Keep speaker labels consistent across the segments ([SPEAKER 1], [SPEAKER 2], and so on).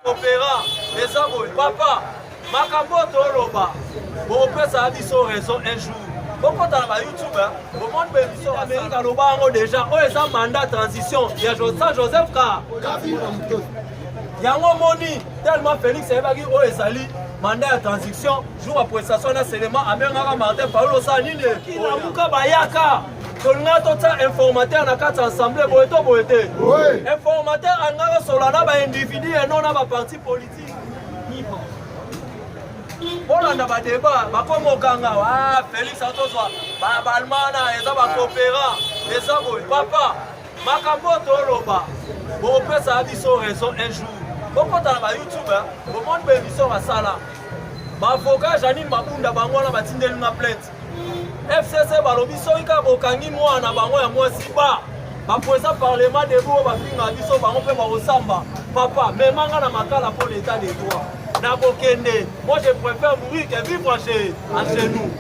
[SPEAKER 1] Opera eza boye papa makambo oyo toloba bokopesa biso raison un jour bokota na ba youtube bomoni bemission amerika aloba yango deja oyo eza mandat transition ya josa joseph ka yango omoni tellement félix ayebaki oyo ezali mandat ya transition jour ya prestation na selema abengaka martin paul osala nini kilamuka bayaka tolinga totya informateur na kati ya assemblée boye to boye te informateur alingaka sola na baindividu ya no na baparti politike bolanda badeba bakoma okanga ah, félix atozwa baalmana eza bacoopera eza boye papa makambo oyo toloba bokopesa biso raison un jour bokota na bayoutube bomoni baemission basala baavoka janine mabunda bango wana batindeli nga plainte fcc balobi soki kaka bokangi mwana na bango ya mwasi ba bapresa parlement debout oyo bafinga biso bango mpe bakosamba papa memanga na makala mpo l'état de droit na kokende moi je préfère mourir que vivre chez à chez nous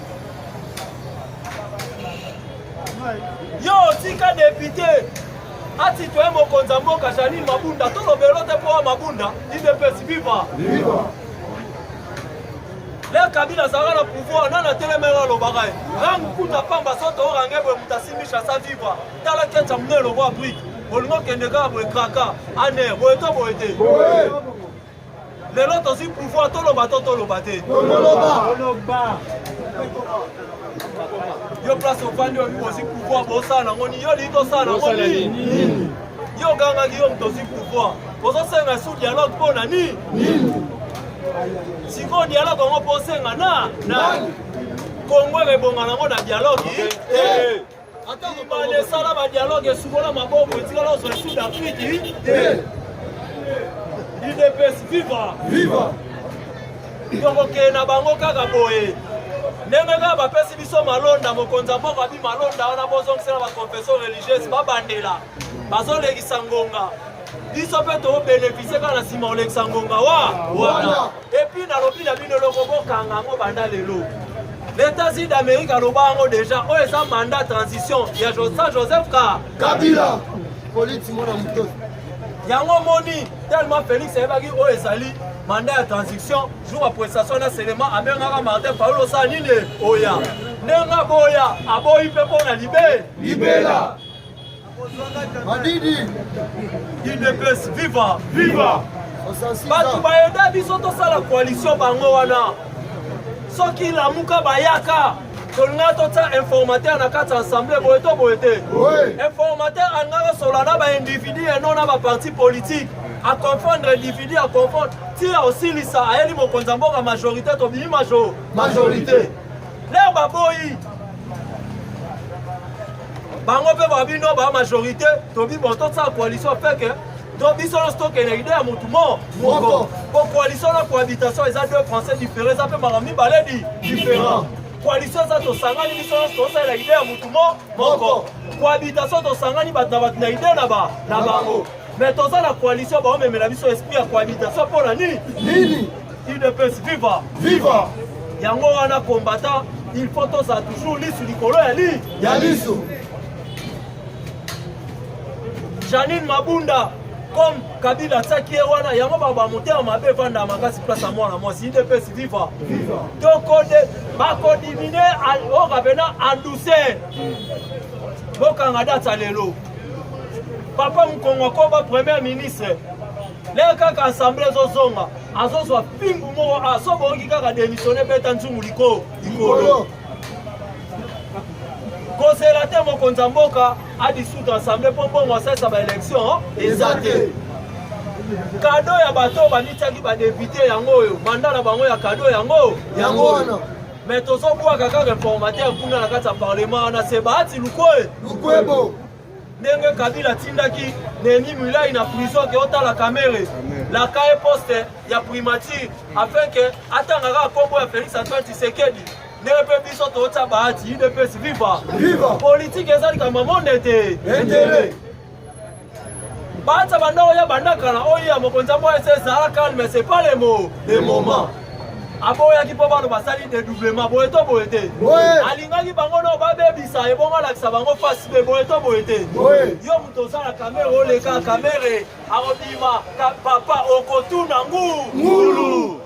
[SPEAKER 1] yo otika depute atitoye mokonzi ya mboka janine mabunda tolobelo te mpo wa mabunda idps viva, viva. le kabila azalaka na pouvoir nani atelemeli alobaka ye rang kuta pamba soto orange boye moto asimbisha sa vivre tala kecha mune eloko ya brike bolingo okende kaka boye kraka ane boye to boye te lelo tozwi pouvoir toloba to toloba te yo place ofandi oyebi bozwi pouvoir bosala nango nini yo lingi tosala nango nini yo ogangaki yo moto ozwi pouvoir ozosenga su dialogue mpo na nini sikoyo dialogue yango mpo osenga na nani kongo ekebonga nango na dialogue te bale esala badialogue esukola maboko etikala ozwa sud afrique te idps viva viva tokokende na bango kaka boye ndenge kaka bapesi biso malonda mokonzi ya mboka bi malonda wana bozongisela baconfession religieuse babandela bazolekisa ngonga biso mpe tobenefisie kaka na nsima olekisa ngonga wa wana epuis nalobi na bino eloko bokanga yango banda lelo leta sud amerique aloba yango deja oyo eza mandat transition ya josa joseph ka kabila politi mona moto yango omoni tellement félix ayebaki oyo ezali mandat ya transition jour ya prestation na selema abengaka martin paulo osala nini oya ndenge aboya aboyi mpe mpo na libe libela Madidi Udps viva viva bato bayoda biso tosala koalisio bango wana soki lamuka bayaka tolinga totya informateur na kati ya assemblée boye to boye te informateur alingaka solola na baindividu eno na baparti politique aconfondre individu aconfondre ti osilisa ayeli mokonzi ya mboka majorité tobimi majorité lere baboyi bango mpe babino ba majorité tobi bon tosala coalition feke to biso nyonso tokende idee ya motu mo moko po coalition na cohabitation eza deux français différent eza mpe makambo mibale di différent coalition eza tosangani biso nyonso tosalela idee ya motu mo moko cohabitation tosangani bato na bato na idee na bango Mais toza na coalition ba omemela biso esprit ya cohabitation pona nini? Nini? UDPS viva! Viva! Yango wana combattant il faut tozala toujours lisu likolo ya li ya lisu. Janine Mabunda comme Kabila atiaki ye wana yango baba motema mabe evanda makasi place ya mwana mwasi udps viva tokode bakodimine oyo kapena andouceur bokanga data lelo papa mukongo akoba premier ministre lelo kaka assemble ezozonga azozwa pingu moko aso ah, boyoki kaka démissionne beta nzungu likolo likolo kozela te mokonzi ya mboka adissoudre assemble mpo mbongo asalisa baélection eza te kado ya bato oyo bamityaki badepute yango oyo manda na bango ya kado yango yango wana Mais tozo bwaka kaka informateur kuna na kati ya parlement wana se bahati lukwe lukwebo ndenge kabila atindaki neni milai na prison ke otala kamere laka ye poste ya primature afin ke atanga kaka nkombo ya félix antoine tshisekedi ndenge mpe biso tootya bahati udps viva viva politike eza likambo ya monde te Bacha banda oya banda kala oya mokonzi ya moya c'est ça calme c'est pas les mots les moments aboyaki mpo bano basali dedoublement boye to boye te alingaki bango nao babebisa ebongo alakisa bango fasi mpe boye to boye te yo moto ozala kamere oleka kamere akobima papa okotuna ngulu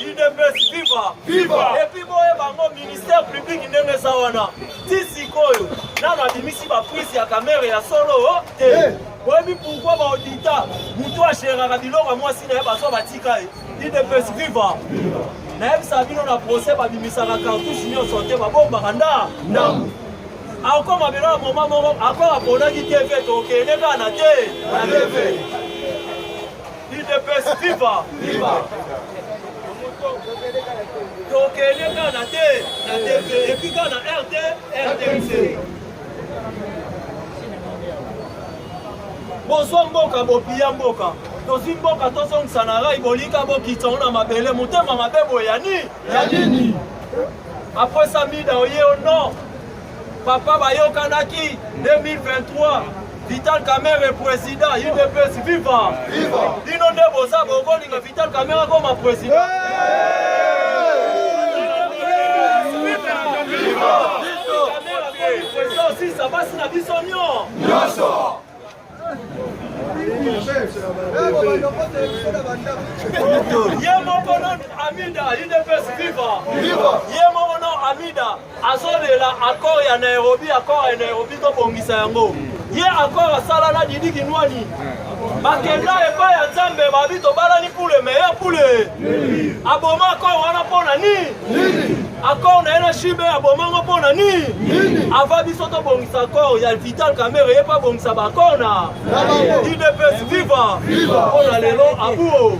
[SPEAKER 1] udps viva viva epuis boye bango ministère public ndenge eza wana ti sikoyo nano abimisi baprise ya kamere ya solo oh, te eh. boyebi pourkui baodita motu ageraka biloko ya mwasi na ye bazwa batika ye udps viva nayebisaka bino na procès babimisaka cartouche nyonso te babombaka nda ndambo akoma biloko moma moko akoma aponaki tv tokende kaka na te na tv Udps viva! Viva! tokende kaka na te na tv epuis kaka na rt rtmc bozwa mboka bopiya mboka tozwi mboka tozongisa na rai bolika bokitisa ngo na mabele motema mabe boye ya nini ya nini apres samida oye o nord Papa bayokanaki 2023 Vital Kamerhe président UDPS viva viva bino nde boza bokolinga Vital Kamerhe akoma président sisa basi na biso nyo nyonso ye moko non amida udps viva ye moko non amida azolela accord ya nairobi accord ya nairobi tobongisa yango ye accord asala na didi kinwani bakenda epai ya nzambe babi tobalani pule meya pule aboma accord wana mpo na nini Accord na ye na Shibe aboma ngo mpo na nini? Ava biso tobongisa accord ya Vital Kamerhe ye mpe abongisa ba accord na UDPS viva mpo na lelo abuo.